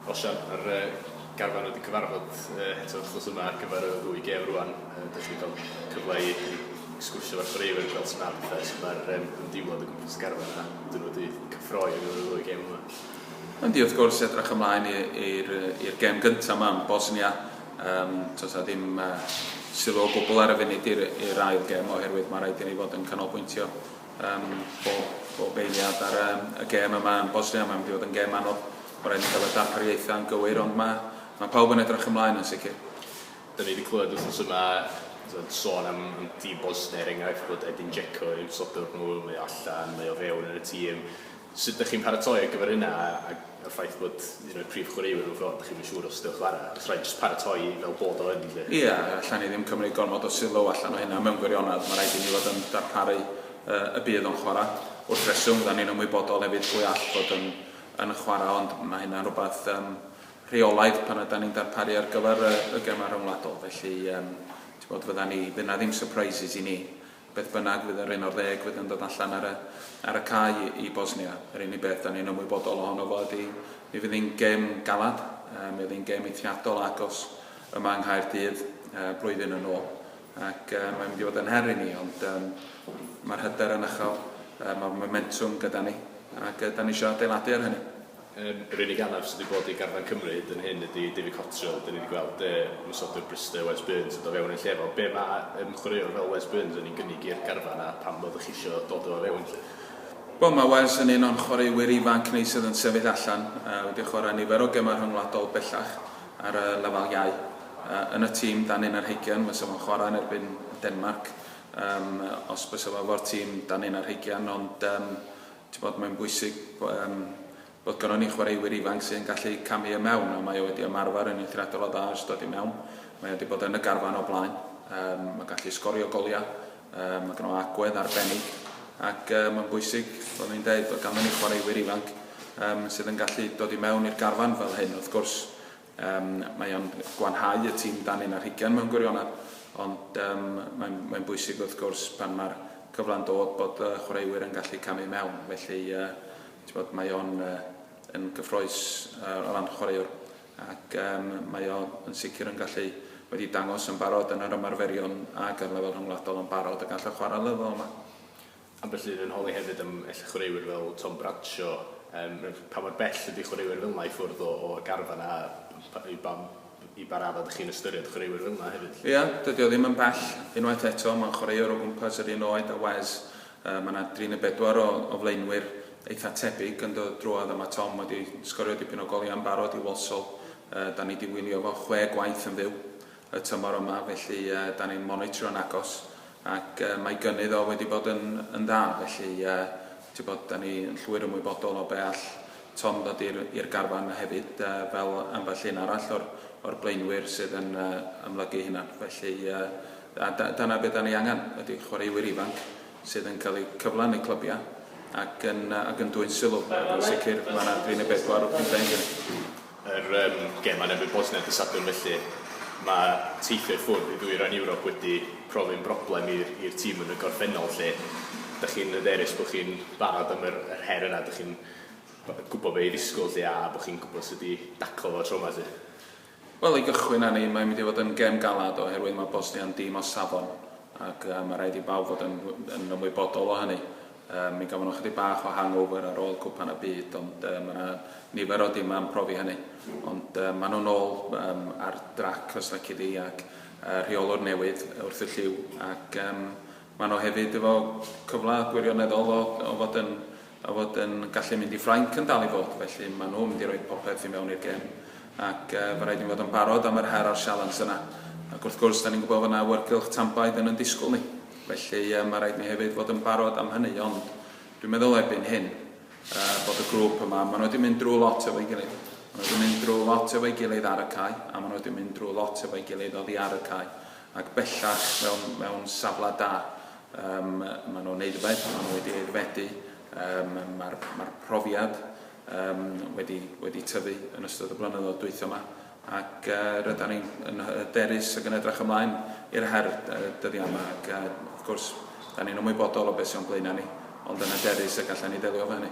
Wel Sian, mae'r garfan wedi cyfarfod eto wrth gwrs yma ar gyfer y ddwy gêm rwan. Dych chi wedi cael cyfle i sgwrsio efo'r chwaraewyr fel ti'n arfer pethau, so mae'r ymdeimlad o gwmpas y garfan yna, dyn nhw wedi cyffroi yn y ddwy gêm yma. Yndi, wrth gwrs, edrych ymlaen i'r gêm gyntaf yma yn Bosnia. Um, Tos a ddim uh, sylw o gwbl ar y funud i'r ail gêm oherwydd mae rhaid i ni fod yn canolbwyntio um, bob, bob eiliad ar um, y gêm yma yn Bosnia. Mae'n mynd i fod yn gêm anodd. Ma raid ni cael y darpariaethau yn gywir ond ma, ma pawb yn edrach ymlaen yn sicr. Da ni di clywed wthnos yma t'od sôn am Dean Bosney er enghraifft bod Edin Dzeko yn eu sodwr nhw, mae o allan, mae o fewn yn y tîm. Sut dych chi'n paratoi ar gyfer hynna a a a'r ffaith bod un o'r prif chwaraewyr mewn ffordd dych chi'm yn siŵr os dewch chwarae? Os rhaid jyst paratoi fel bod o yn 'lly? Ia, alla ni ddim cymryd gormod o sylw allan o hynna mewn gwirionedd, ma raid i ni fod yn darparu yy y bydd o'n chwarae. Wrth reswm, fyddan ni'n ymwybodol hefyd pwy all fod yn yn chwarae ond mae hynna'n rhywbeth yym rheolaidd pan ydan ni'n darparu ar gyfer y, y gemau rhyngwladol felly yym ti'n bod fydda ni fydd na ddim surprises i ni beth bynnag fydd yr un o'r ddeg fydd yn dod allan ar y, ar y cae i, i Bosnia yr unig beth da ni'n ymwybodol ohono fo ydy mi fydd hi'n gem galad uh, mi oedd hi'n gem eithriadol agos yma yng Nghaerdydd uh, blwyddyn yn ôl ac mae'n mynd i fod yn her i ni, ond um, mae'r hyder yn uchel, uh, mae'r momentwm gyda ni, ac uh, da ni eisiau adeiladu ar hynny. Um, yr unig anaf sydd wedi bod i garfan Cymru hyd yn hyn ydy David Cottrell. Dyn ni wedi gweld uh, mysodwr Bristol, Wes Burns, yn dod fewn yn lle efo. Be mae um, chwaraewr fel Wes Burns yn ei gynnig i'r garfan a pam bod chi eisiau dod o fewn lle? Wel, mae Wes yn un o'n chwaraewyr ifanc ni sydd yn sefyll allan, uh, wedi chwarae nifer o gemau rhyngwladol bellach ar y lefel iau. Yn y tîm dan un ar hugian fysa fo'n chwarae yn erbyn Denmarc yym os bysa fo efo'r tîm dan un ar hugian ond yym t'bod mae'n bwysig bo- yym bod gynnon ni chwaraewyr ifanc sy'n gallu camu i mewn a mae o wedi ymarfer yn eithriadol o dda ers dod i mewn. Mae o wedi bod yn y garfan o blaen. Yym mae'n gallu sgorio goliau. Yym mae gynno agwedd arbennig ac yy mae'n bwysig fel o'n i'n deud bod ganddon ni chwaraewyr ifanc yym sydd yn gallu dod i mewn i'r garfan fel hyn wrth gwrs Yym, mae o'n gwanhau y tîm dan un ar hugain mewn gwirionedd, ond yym, mae'n, mae'n bwysig wrth gwrs pan mae'r cyfle'n dod bod y chwaraewyr yn gallu camu i mewn, felly yy, ti'n bod, mae o'n yy, yn gyffroes yy, o ran chwaraewr, ac yym, mae o yn sicr yn gallu wedi dangos yn barod yn yr ymarferion ac ar lefel rhyngwladol yn barod y gall o chwarae ar lefel yma. Ambell un yn holi hefyd am elli chwaraewyr fel Tom Bradshaw, yym pa mor bell ydi chwaraewyr fel 'na i ffwrdd o o garfan a pa i ba i ba radda dych chi'n ystyried chwaraewyr fel 'na hefyd 'lly? Ia, dydi o ddim yn bell, unwaith eto mae'n chwaraewr o gwmpas yr un oed a Wes, yy ma' 'na dri ne' bedwar o o flaenwyr eitha' tebyg yn dod drwodd a ma' Tom wedi sgorio dipyn o goliau yn barod i Walsall, yy 'dan ni 'di wylio fo chwe gwaith yn fyw, y tymor yma, felly dan ni'n monitro'n agos ac mae gynnydd o wedi bod yn yn dda, felly ti'n bod dan ni yn llwyr ymwybodol o be all Tom ddod i'r i'r garfan hefyd fel ambell un arall o'r o'r blaenwyr sydd yn ymlygu hynna, felly a da- dyna be dan ni angen ydy chwaraewyr ifanc sydd yn cael eu cyfle yn eu clybiau ac yn ac yn dwyn sylw ac yn sicr mae yna dri neu bedwar o pethau yn gynnydd. Yr um, gêm yn erbyn Bosnia dy Sadwrn felly, mae teithio i ffwrdd i ddwy ran Ewrop wedi profi'n broblem i'r tîm yn y gorffennol lle. Dych chi'n hyderus bod chi'n barod am yr, yr her yna, dych chi'n gwybod be i ddisgwyl lle a bod chi'n gwybod sut i daclo fo tro yma lle. Wel, i gychwyn â ni, mae'n mynd i fod yn gêm galad oherwydd mae Bosnia yn dîm o safon ac uh, mae rhaid i bawb fod yn, yn ymwybodol o hynny. Yy, mi gafon nhw chydig bach o hangover ar ôl Cwpan y Byd, ond yy, mae 'na nifer o dimau yn profi hynny. Ond yy, maen nhw'n ôl um, ar drac, os leci di, ac uh, rheolwr newydd wrth y lliw, ac um, maen nhw hefyd efo cyfle gwirioneddol o, o fod yn o fod yn gallu mynd i Ffrainc yn dal i fod, felly maen nhw'n mynd i roi popeth i mewn i'r gêm. Ac mae rhaid i ni fod yn barod am yr her a'r sialens yna. Ac wrth gwrs, da ni'n gwybod fod yna awyrgylch tanbaid yn yn disgwyl ni. Felly, mae rhaid i ni hefyd fod yn barod am hynny. Ond dwi'n meddwl erbyn hyn bod y grŵp yma, maen nhw wedi mynd drwy lot efo'i gilydd. Maen nhw wedi mynd drwy lot efo'i gilydd ar y cae, a maen nhw wedi mynd drwy lot efo'i gilydd oddi ar y cae. Ac bellach, mewn, mewn safle da, um, maen nhw'n neud y beth, maen nhw wedi aeddfedu, um, mae'r, mae'r profiad, um, wedi, wedi tyfu yn ystod y blynyddoedd dwytho yma ac uh, rydyn ni'n yn hyderus ac yn edrych ymlaen i'r her dyddiau yma ac uh, wrth gwrs, da ni'n ymwybodol o beth sy'n blaenau ni, ond yn hyderus y gallan ni ddelio efo hynny.